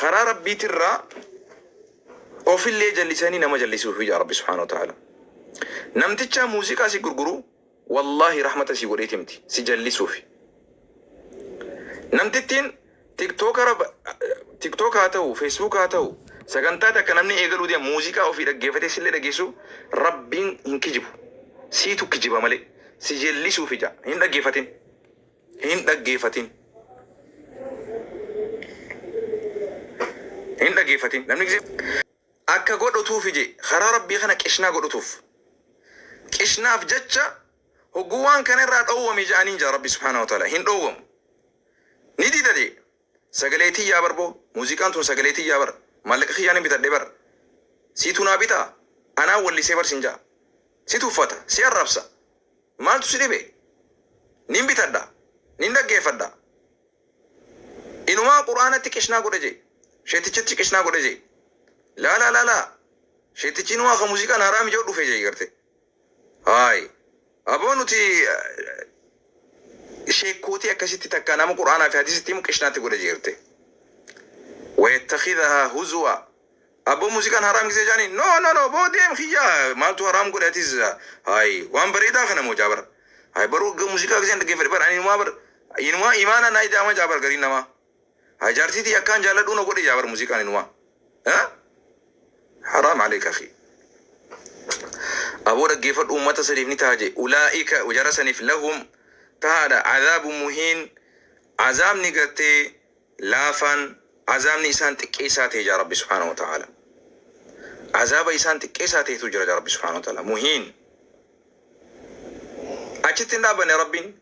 Karaa Rabbiitirraa ofillee jallisanii nama jallisuu hija Rabbi subhaanahu wa ta'aala. Namtichaa muuziqaa si gurguru wallaahi rahmata si godheeti miti si jallisuufi. Namtittiin tiktookara tiktook haa ta'u feesbuuk haa ta'u sagantaa takka namni eegaluu deema muuziqaa ofii dhaggeeffatee sillee dhageessu Rabbiin hin kijibu. Siitu kijiba malee si jallisuuf ija hin dhaggeeffatin. Hin dhaggeefatin Hin dhaggeefatin Namni gisee Akka godhutuufi je karaa rabbii kana qishnaa godhutuuf Qishnaaf jecha hogguu waan kana irraa dhoowwami ja'aniin ja'a rabbii subhaanahu wa ta'aalaa hin dhoowwamu Ni dida je Sagalee tiyyaa bar boo muziqaan tun sagalee tiyyaa bar maallaqa kiyyaanin bitadhe bar siitu naa bitaa anaa wallisee bar sin ja'a si tuffata si arrabsa maaltu si dhibe nin bitadha nin dhaggeeffadha inumaa qur'aanatti qishnaa godha jee sheettichatti qishnaa godha jee laalaa laalaa sheettichi inumaa ka muziqaan haaraa mija'u dhufe jee garte Haay. Aboo nuti sheekkootii akkasitti takka nama qur'aanaa fi hadiisitti himu qishnaatti godha jeerte. Wayattakhidahaa huzuwa. Aboo muuziqaan haraam gisee jaaniin no no no boo deem kiyya maaltu haraam godhe atis haay waan bareedaa kana moo jaabar. Haay baruu muuziqaa giseen dhaggeeffadhe bar ani inumaa bar inumaa imaanaa naa ida'ama jaabar gariin namaa. Haa jaartii tiyya akkaan jaaladhuu na godhe jaa bar muziiqaan inumaa. Haa? Haraam aleek akhii. Aboo dhaggeeffadhu ummata saniif ni taha jee ulaa'ika jara saniif lahum tahaadha azaabu muhiin azaabni gartee laafaan azaabni isaan xiqqeessaa ta'e jaa rabbi subhaanahu wa ta'aala azaaba isaan xiqqeessaa ta'etu jira jaa rabbi subhaanahu wa ta'aala muhiin achitti hin dhaabanne rabbiin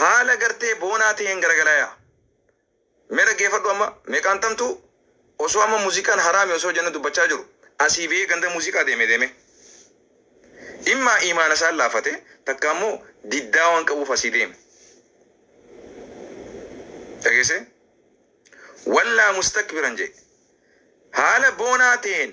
Haala gartee boonaa taheen garagalaya. Mee dhaggeefadhu amma meeqaan tamtuu osoo amma muziqaan haraami osoo jennu dubbachaa jiru asii bahee ganda muziqaa deeme deeme immaa iimaana isaan laafate takka ammoo diddaa waan qabuuf asii deeme dhageessee wallaa mustakbiran jee haala boonaa taheen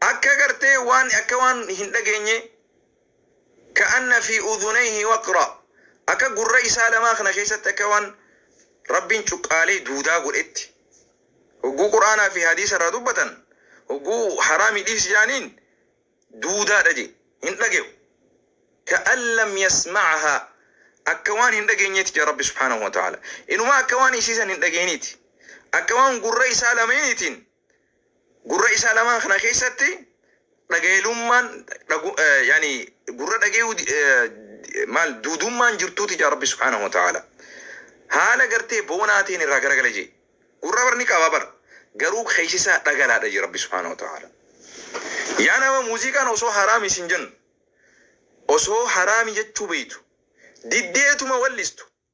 Akka gartee waan akka waan hin dhageenyee ka'anna fii udhunayhi waqra akka gurra isaa lamaa kana keessatti akka waan Rabbiin cuqqaalee duudaa godhetti hogguu qur'aanaa fii hadiisa irraa dubbatan hogguu haraami dhiisi jaaniin duudaadha je hin dhage'u ka'an lam yasma'ahaa akka waan hin dhageenyeeti ja Rabbi subhaanahu wa ta'aala inumaa akka waan isii san hin dhageeniiti akka waan gurra isaa lameeniitiin Gurra isaa lamaan kana keessatti dhagaelummaan dhagu eh, yani gurra dhagayuu di- eh, di- maal duudummaan jirtuuti jaa rabbi subhaanahu wa ta'ala haala gartee boonaa ta'een irraa garagala jee gurra bar ni qaba bar garuu keessa isaa dhagalaadha jee rabbi subhaanahu wa ta'ala yaa nama muuziqaan osoo haraami isin jennu osoo haraami jechuu beeytu diddeetuma wallistu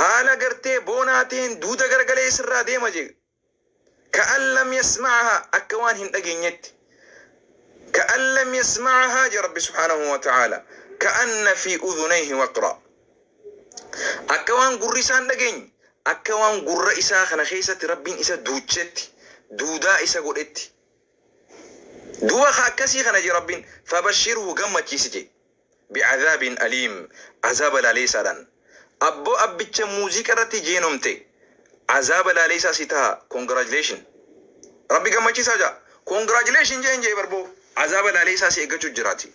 Haala gartee boonaa ta'een duuda garagalee isirraa deema je. Ka'an lam yasma'ahaa akka waan hin dhageenyetti. Ka'an lam yasma'ahaa je Rabbi subhaanahu wa ta'aalaa. Ka'anna fi udhunayhi waqraa. Akka waan gurri isaa hin dhageenye, akka waan gurra isaa kana keessatti Rabbiin isa duuchetti, duudaa isa godhetti. Duuba ka akkasii kana je Rabbiin fabashshirhu gammachiisi je. bi'adhaabin aliim azaaba laaleesaadhan Abbo abbicha muuziqa irratti jeenomte azaaba laaleesaa si taha congratulation Rabbi gammachiisaa jaa congratulation jeen jee bar boo azaaba laaleesaa si eggachu jiraati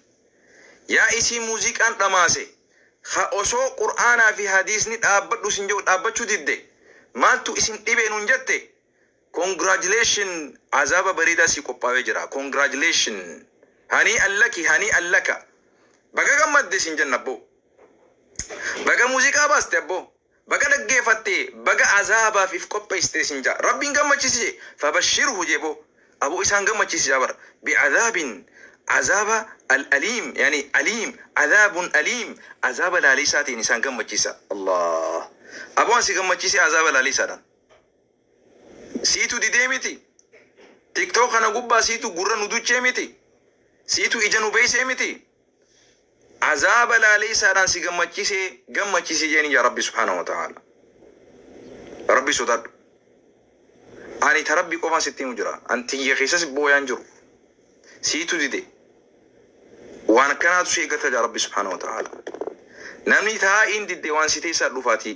yaa isii muuziqaan dhamaase ha osoo qur'aanaa fi hadiisni dhaabbadhu sin jehu dhaabbachuu didde maaltu isin dhibee nun jette Congratulation Azaaba bareedaa sii qophaawee jira Congratulation Hanii Allaki Hanii Allaka Baga gammadde siin jenna abboo Baga muuziqaa baaste abboo Baga dhaggeefatte Baga Azaabaaf if qopheessite siin jaa Rabbiin gammachiisi jee Fabashirhu jee boo Aboo isaan gammachiisi jaa bar Bi'azaabin Azaaba Al Aliim yani Aliim Azaabun Aliim Azaaba laaleessaa ta'een isaan gammachiisa Allaah Aboo an si gammachiisee Azaaba laaleessaadhaan. Siitu didee miti? TikTok kana gubbaa siitu gurra nu duchee miti? Siitu ija nu beeksee miti? Azaaba laaleessaadhaan si gammachiisee gammachiisii jeeni yaa Rabbi subhaanahu wa ta'aala. Rabbi sodaadhu. Ani ta Rabbi qofaan sitti himu jira. An tiyya keessas booyaan jiru. Siitu dide. Waan akkanaatu si eeggata jaa Rabbi subhaanahu wa ta'aala. Namni taa'iin didde waan si teessaa dhufaatii.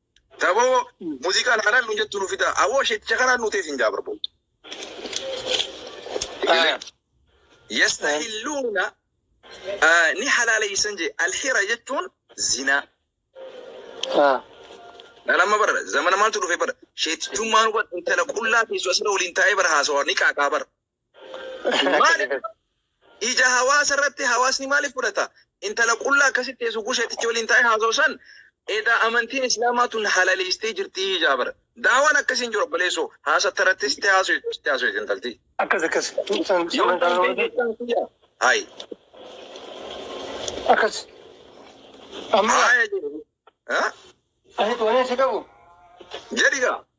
Daboo muziqaa laalaan nu jettu nu fidaa. Awoo sheekicha kanaan nu teesin jaa barboo. Yastahilluuna ni halaaleysan jee alhira jechuun zinaa. Nama bara zamana maaltu dhufe bara sheetichummaan hubat intala qullaa teessu asirra waliin taa'ee bara haasawaa ni qaaqaa bara. Maaliif ija hawaasa irratti hawaasni maaliif fudhata? Intala qullaa akkasitti teessu gusheetichi waliin taa'ee haasa'u san edaa amantiin islaamaa tun halaleessitee jirti ijaa bara. Daawaan akkasiin jiru obboleessoo haasatta irratti sitti haasa'u sitti haasa'u intalti. Akkas akkas. Yoon kan ta'e jechuun kiyya. Hayi. Akkas. Amma Haaya jedhu. Ha? ani tolee si qabu. Jedhi gaa.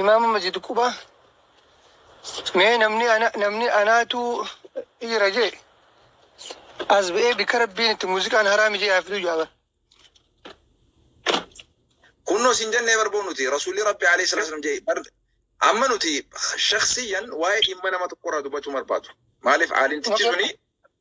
Imaama majid quba mee namni ana namni anaatu dhiira jee as ba'ee bikka rabbiin itti muuziqaan haraami jee haa fiduu jaaba. Kunnoo sin jennee barboo nuti rasuulli rabbi alayhi salatu wasalam jee bar amma nuti shakhsiyyan waa'ee dhimma nama tokkorraa dubbachuu hin barbaadu. Maaliif aalimtichi suni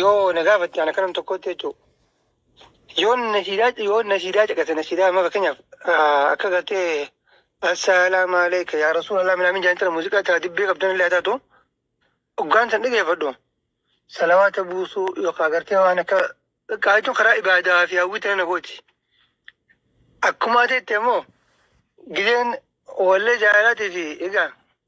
Yoo na gaafatte ana kanam tokkotti jechuudha. Yoo nasiidaa yoo nasiidaa caqase nasiidaa amma fakkeenyaaf ah, akka gartee assalaamu aleyka yaa rasuulallah minaamin jedhan tana muuziqaa taa dibbee qabdan illee haa taatu hoggaan san dhageeffadhu salawaata buusuu yookaan gartee waan akka xiqqaa jechuun karaa ibaadaa fi hawwii tana na gooti. Akkuma ta'etti ammoo gizeen wallee jaalalaatii fi egaa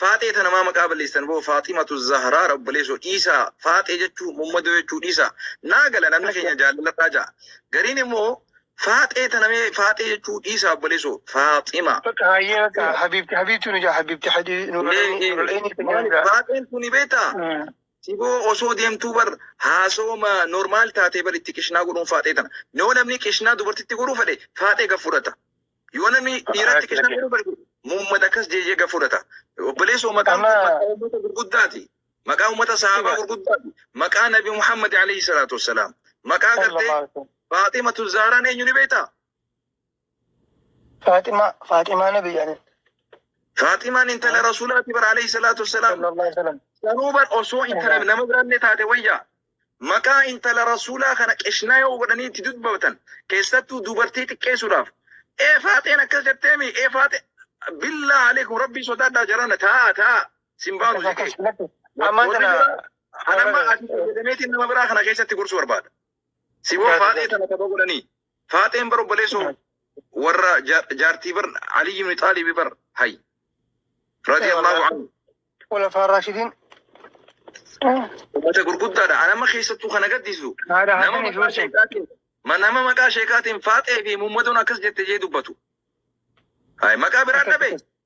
Faaxee tana maa maqaa balleessitan boo Faaximatu Zahraara obboleessoo dhiisaa Faaxee jechuu Mummadoo jechuu dhiisaa naa gala namni keenya jaallaladhaa ja'a gariin immoo Faaxee tana mee Faaxee jechuu dhiisaa obboleessoo Faaxima Bakka hayyee bakka Faaxima habiibti habiibti nu jaa habiibti hadii nu Mee lolanii nu ee, lolanii keenya nu maali jaa. Faaxeen tuni beektaa Mm. Siboo osoo deemtuu bar haasooma normaal taatee bar itti qishnaa godhuun faaxee tana. Yoo namni qishnaa dubartitti godhuu fedhe faaxee gad fudhata. Yoo namni dhiiratti Akkas kennaa jedhe. garuu barbaadu muummata akkas jeejee gad fudhata. Obboleessoo maqaan kun Amma- maqaa uummata gurguddaati. Maqaa uummata sahaabaa Dhugaa. gurguddaati. Maqaa Nabi Muhammad alayhi salaatu wassalaam. Maqaa gartee Sallallahu alaihi wasallam. Faaximatu Zahraan eenyu ni beektaa? Faaximaa Faaximaa nabi yaani. Faaximaan intala Rasuulaati bara alayhi salaatu wassalaam. Sallallahu alaihi wasallam. Sanuu bar osoo intala nama biraallee taate wayyaa. maqaa intala rasuulaa kana qishnaa yoo godhanii itti dubbatan keessattuu dubartii xiqqeessuudhaaf ee faaxeen akkas jetteemi ee faaxe billaa aleekum rabbii sodaadhaa jarana taa'a taa'a sin baanu jedhee Ammaan Warri tana biraa- anamma ati fayyadameetiin nama biraa kana keessatti gorsuu barbaada. Si boo Taate- faaxee tana tapha godhanii. Faaxeen bar obboleessoo warra ja- jaartii bar Aliyyi ibn Xaalibi bar hay radiyallahu anhu Khulafaa Raashidiin. ummata gurguddaadha. Anama keessattuu kana gaddisu Haadha nama Hasan maqaa Ijoollee. sheekaatiin ma- nama maqaa sheekaatiin faaxee fi muummadoon akkas jette jee dubbatu. Hay maqaa biraa dhabe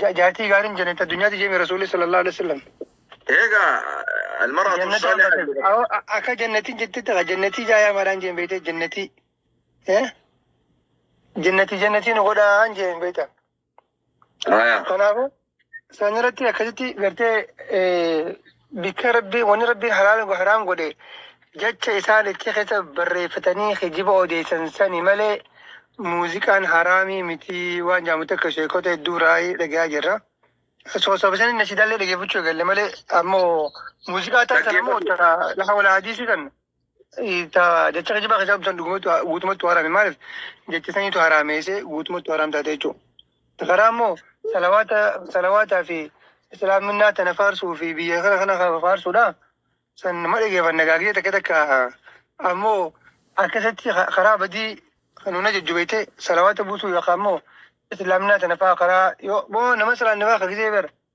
Ja- Jaartii gaariin jannata addunyaati jee rasuulli sallallahu alaihi wasallam. Eega almaratu Jannata saaliha hambate. jedhama. Awoo, a- Akka jannatiin jettetti akka jannatii jaayaa maraan jeen beekte jannatii. Eh? Jannatii jannatii nu godhaan jeen beekta. Aya. Kanaafuu sanirratti akkasitti gartee eh, Bikka Rabbiin, wanni Rabbiin halaal go haraam godhe, jacha isaan itti keessa barreeffatanii kijiba odeessan sani malee, muuziqaan haraamii miti waan jaamu takka sheekota hedduu irraayii dhagayaa jirra. Soosama isaanii nashidaallee dhageeffachuu eegalle malee ammoo muuziqaa tan san ammoo Dhaggeeffatu. ta laha wala hadiisii tan Taa jecha kijibaa keessaa dubbisan dhugumatti waa- guutumatti haraame maaliif jecha saniitu haraameessee guutumatti haraam taate jechuudha. Karaa immoo salawaata salawaataa fi islaaminaa tana faarsuu fi biyya kana kana kana faarsuudha. San nama dhageeffanna gaagee takka takka ammoo akkasitti ka- karaa badii nuuna jajjubeete salawaata buusuu yookaan immoo islaaminaa tana faa karaa yoo boo nama salaanne faa ka gisee bara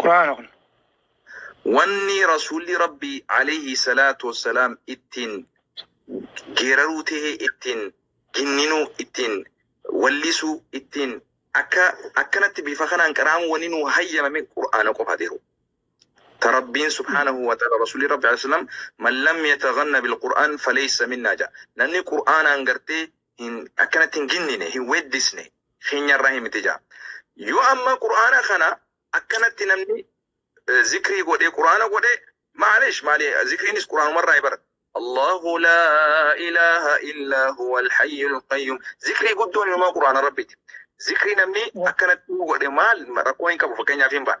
Qur'aana kun. Wanni Rasuulli Rabbii Aleeyhi Salaatu Wassalaam ittiin geeraruu tahee ittiin ginninuu ittiin wallisuu ittiin akka akkanatti bifa kanaan qara'amu wanni nuu hayyamame Qur'aana qofa ta'u. Ta Rabbiin Subhaanahu wa ta'ala Rasuulli Rabbi Aleeyhi Salaam man lam yataganna bil Qur'aan faleysa minnaa ja'a. Namni Qur'aanaan gartee hin akkanatti hin ginnine hin weeddisne keenyarraa hin miti jaa yoo amma qur'aana kana akkanatti namni eh, zikrii godhe qur'aana godhe maalish maali zikriinis qur'aanumarraa bara Allahu laa ilaaha illaa huwa alhayyul qayyum zikrii guddoon inumaa qur'aana rabbiiti zikrii namni akkanatti godhe maal rakkoo hin qabu fakkeenyaaf hin ba'a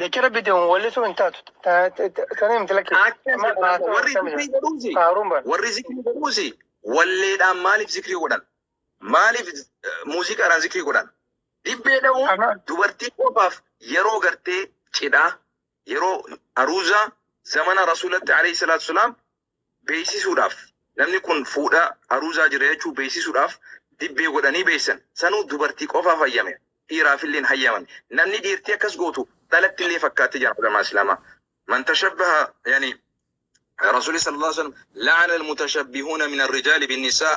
Jechi rabbiitti himuu wallisuu hin taatu. Tana himti lakkee. Akka Amma jedhamu haasaa warri akkamiidha? zikrii godhuusi Faaruun bara. warri zikrii godhuusi walleedhaan maaliif zikrii godhan? Maaliif eh, muuziqaadhaan zikrii godhan? Dibbee dha'uun Amma dubartii qofaaf yeroo gartee cidhaa yeroo aruuzaa zamana rasuulatti alayhi salaatu salaam beeksisuudhaaf namni kun fuudha aruuzaa jira jechuu beeksisuudhaaf dibbee godhanii beeksisan. Sanuu dubartii qofaaf hayyame. Dhiiraafillee hin hayyamame. Namni dhiirtii akkas gootu dhalattillee fakkaatti jedhan ulamaa Islaamaa. Man tashabbaha yani Rasuulli sallallahu alaihi wasallam la'ana al-mutashabbihuuna min ar-rijaali bin-nisaa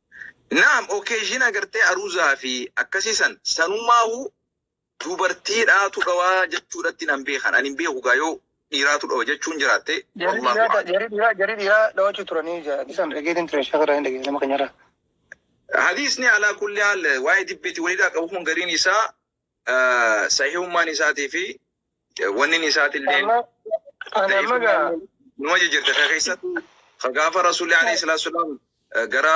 Naam occasion agartee aruzaa fi akkasii san sanumaahu dubartiidhaatu dhawaa jechuudhatti nan beekan ani hin beeku gaa yoo dhiiraatu dhawa jechuun jiraatte Jarii wallaahu dhiiraa a'lam. jarii dhiiraa jarii dhiiraa dhawachuu turanii jaa dhisan dhageetiin ture shafa irraa hin dhageetiin nama keenyarraa. Hadiisni alaa kulli haal waa'ee dibbeeti waliidhaa qabu kun gariin isaa sahihummaan isaatii fi wannin isaatillee Amma ani amma gaa numa jijjirte ka keessatti ka gaafa rasuulli alayhi salaatu salaam gara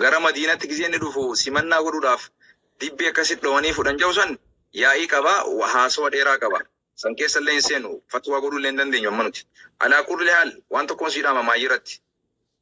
gara madiinatti gizee inni dhufu simannaa godhuudhaaf dibbee akkasitti dhowanii fudhan jedhu san yaa'ii qaba wa- haasawa dheeraa qaba san keessa illee hin seenu fatwaa godhuu illee hin dandeenyu amma nuti alaa kulli haal waan tokkoon siidhaama maayyiratti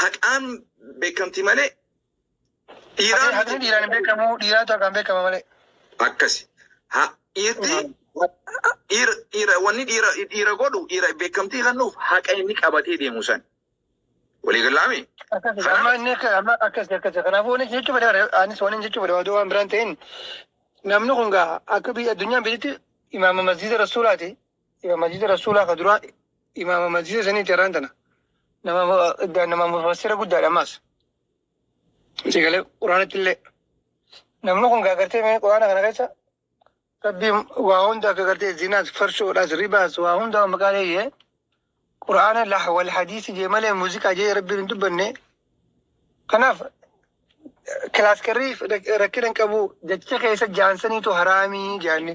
Haqaan beekamti malee dhiiraan Haqni miti. dhiiraan hin beekamu, dhiiraatu haqaan beekama malee. Akkasi. Ha, dhiirti dhiira dhiira wanni dhiira dhiira godhu dhiira beekamtii kennuuf haqa inni qabatee deemu san. Walii gallaami. Akkasi, Kanaaf- amma inni akka- amma akkasi, akkasi. Kanaafuu wanni jechuu fedhe bara, anis wanni jechuu fedhe oduu waan biraan ta'in, namni kun gaa akka biyya addunyaan biyyitti imaama masjiida rasuulaati, Imaama masjiida Rasuulaa ka duraa imaama masjiida saniiti irraan tana. Nama mu- nama mufassira guddaadha ammaas. Si galee quraanatti illee. Namni kun gaagartee mee quraana kana keessa rabbiin waa hunda akka gartee zinaas farshoodhaas ribaas waa hunda maqaa leeyyee quraana lah wal hadiisi jee malee muuziqaa jee rabbiin hin dubbanne. Kanaaf kilaaskarrii rakkina hin qabu jecha keessa jaansaniitu haraamii jaanne.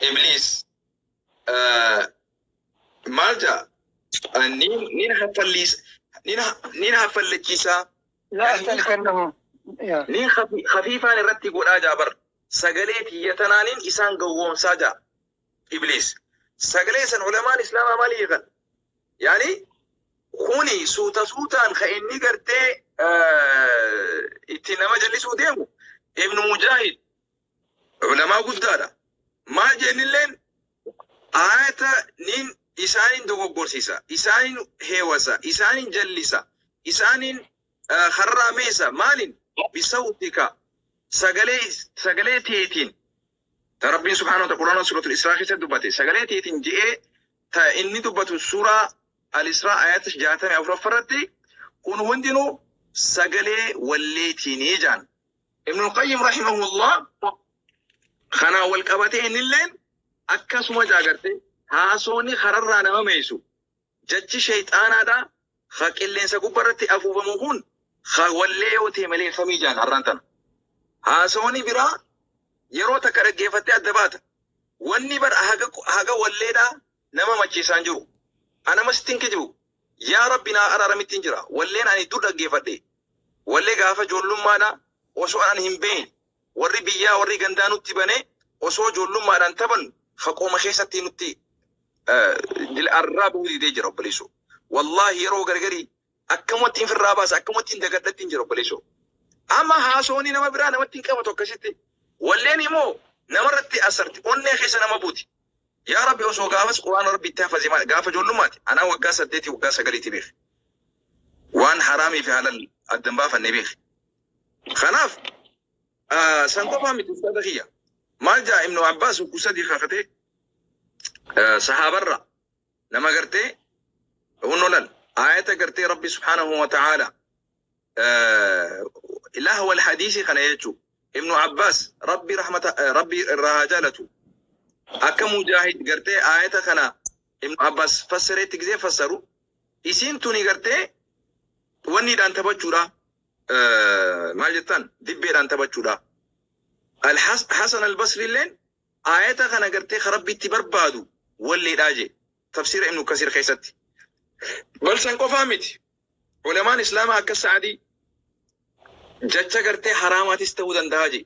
Ibliis maal ja'a? Nin haffalliisa, nin haffallachiisaa, nin hafiifaan irratti godhaa ja'a bar. Sagalee tiyya tanaanin isaan gowwoomsaa ja'a Ibliis. Sagalee san ulamaan Islaamaa maal hiikan? Yaani kuni suuta suutaan ka inni gartee itti nama jallisuu deemu Ibnu Mujaahid Ulamaa guddaadha. Maal jennilleen aayata nin isaanin dogoggorsiisa, isaanin heewasa, isaanin jallisa, isaanin eh, harraameessa. Maalin? Bisawtika. Sagalee, sagalee teetiin. Ta Rabbiin subhaanahu wa ta'ala Qur'aana suuratul Israa keessatti dubbate. Sagalee teetiin je'ee ta inni dubbatu suuraa Al-Israa ayata 64 irratti kun hundinuu sagalee walleetiinii jaan. Ibn al-Qayyim rahimahullah kanaan wal qabatee innilleen akkasuma jaagarte haasooni kararraa nama meeysu jachi sheeyxaanaadha ha qilleensa gubbarratti afuufamu kun ha wallee yoo ta'e malee famii jaan har'aan tana. Haasooni biraa yeroo takka dhaggeeffattee adda baata. Wanni bar haga, haga walleedhaa nama macheessaa hin jiru. An amma sitti hin kijibu. Yaa Rabbi naa araaramittin jira. Walleen ani dur dhaggeeffadhe. Wallee gaafa joollummaadhaa osoo an hin beeyne warri biyyaa warri gandaa nutti banee osoo joollummaadhaan taphannu faqooma keessatti nutti eh, dil arraa bahuu didee jira obboleessoo. Wallaahi yeroo gargarii Akkamattiin firraa baasa akkamattiin dagadha ittiin jira obboleessoo. Amma haasooni nama biraa namatti hin qabatu akkasitti. Walleen immoo namarratti asarti onnee keessa nama buuti. Yaa Rabbi osoo gaafas quraana Rabbi itti hafaze maal gaafa ijoollummaati anaa waggaa saddeetii waggaa sagaliiti beek. Waan haraamii fi halal adda hin baafanne beek. Kanaaf ah, san qofaa miti uffata kiyya. Maal jaa Ibnu Abbaas ukkuu sadii kakatee sahaabarraa Nama gartee hunno lal aayata gartee Rabbi subhaanahu wa ta'aala ilaah wal hadiisii kana jechuu Ibnu Abbaas Rabbi rahmata Rabbi irraa haa jaalatu akka mujaahid gartee aayata kana Ibnu Abbaas fassareetti gisee fassaru isiin tuni gartee wanniidhaan taphachuudha maal jettaan dibbeedhaan taphachuudha Hasan al-Basri illeen Aayata kana gartee ka Rabbi itti barbaadu walleedha jee. Tafsiira Ibnu Kasiir keessatti. Bal san qofaa miti. Ulamaan Islaamaa akka Sa'adii jacha gartee haraamaatis ta'uu dandaha jee.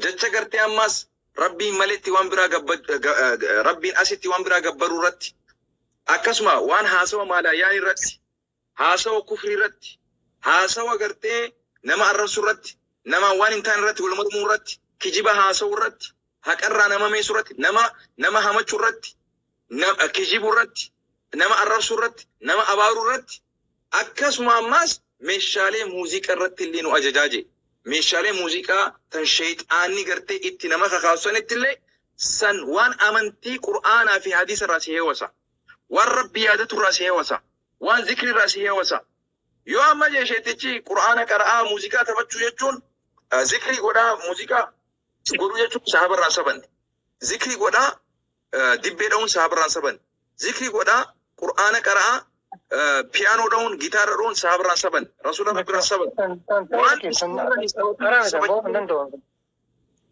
Jacha gartee ammaas Rabbiin maletti waan biraa gabba Rabbiin asitti waan biraa gabbaruu irratti akkasuma waan haasawa maalaa yaani irratti Haasawa kufrii irratti, haasawa gartee nama arrabsu irratti, namaan waan hin taane irratti wal mormuu irratti, kijiba haasawu irratti, haqa irraa nama meesu irratti, nama nama hamachu irratti, na, kijibu irratti, nama arrabsu irratti, nama abaaru irratti, akkasuma ammaas meeshaalee muuziiqa irratti illee nu ajajaa je'e. Meeshaalee muuziiqaa tan sheyxaanni gartee itti nama kakaasu sanitti illee san waan amantii Qur'aanaa fi Hadiisa irraa si heewasa. Waan Rabbi yaadatu irraa si hewasa. Waan zikri irraa si hewasa. Yoo amma jee sheetichi Qur'aana qara'aa muuziqaa taphachuu jechuun eh, zikrii godhaa muuziqaa godhuu jechuun sahaaba irraa hin sabanne. Zikrii godhaa eh, dibbee dha'uun sahaaba irraa hin sabanne. Zikrii godhaa Qur'aana qara'aa eh, piyaanoo dha'uun gitaara dha'uun sahaaba irraa hin sabanne. Rasuula Rabbi irraa hin sabanne. Tan tan tan Waan keessan isaan irraa hin sabanne. qaraa keessan ba'uu hin danda'u.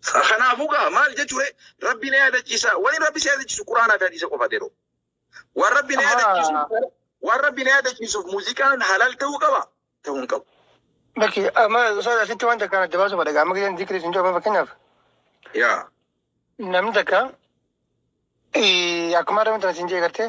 Sa- Kanaafuu gaa maal jechuure rabbi na yaadachiisa wani rabbi si yaadachiisu quraanaa fi hadiisa qofa yeroo waan rabbi na yaadachiisuuf waan rabbi na yaadachiisuuf muuziqaan halal ta'uu qaba ta'uu hin qabu. Bakki amma soda asitti waan takkaan adda baasuu fadha. Amma gidan zikrii isin jooba fakkeenyaaf Yaa namni takka eh, akkuma adda wantan isin jee gartee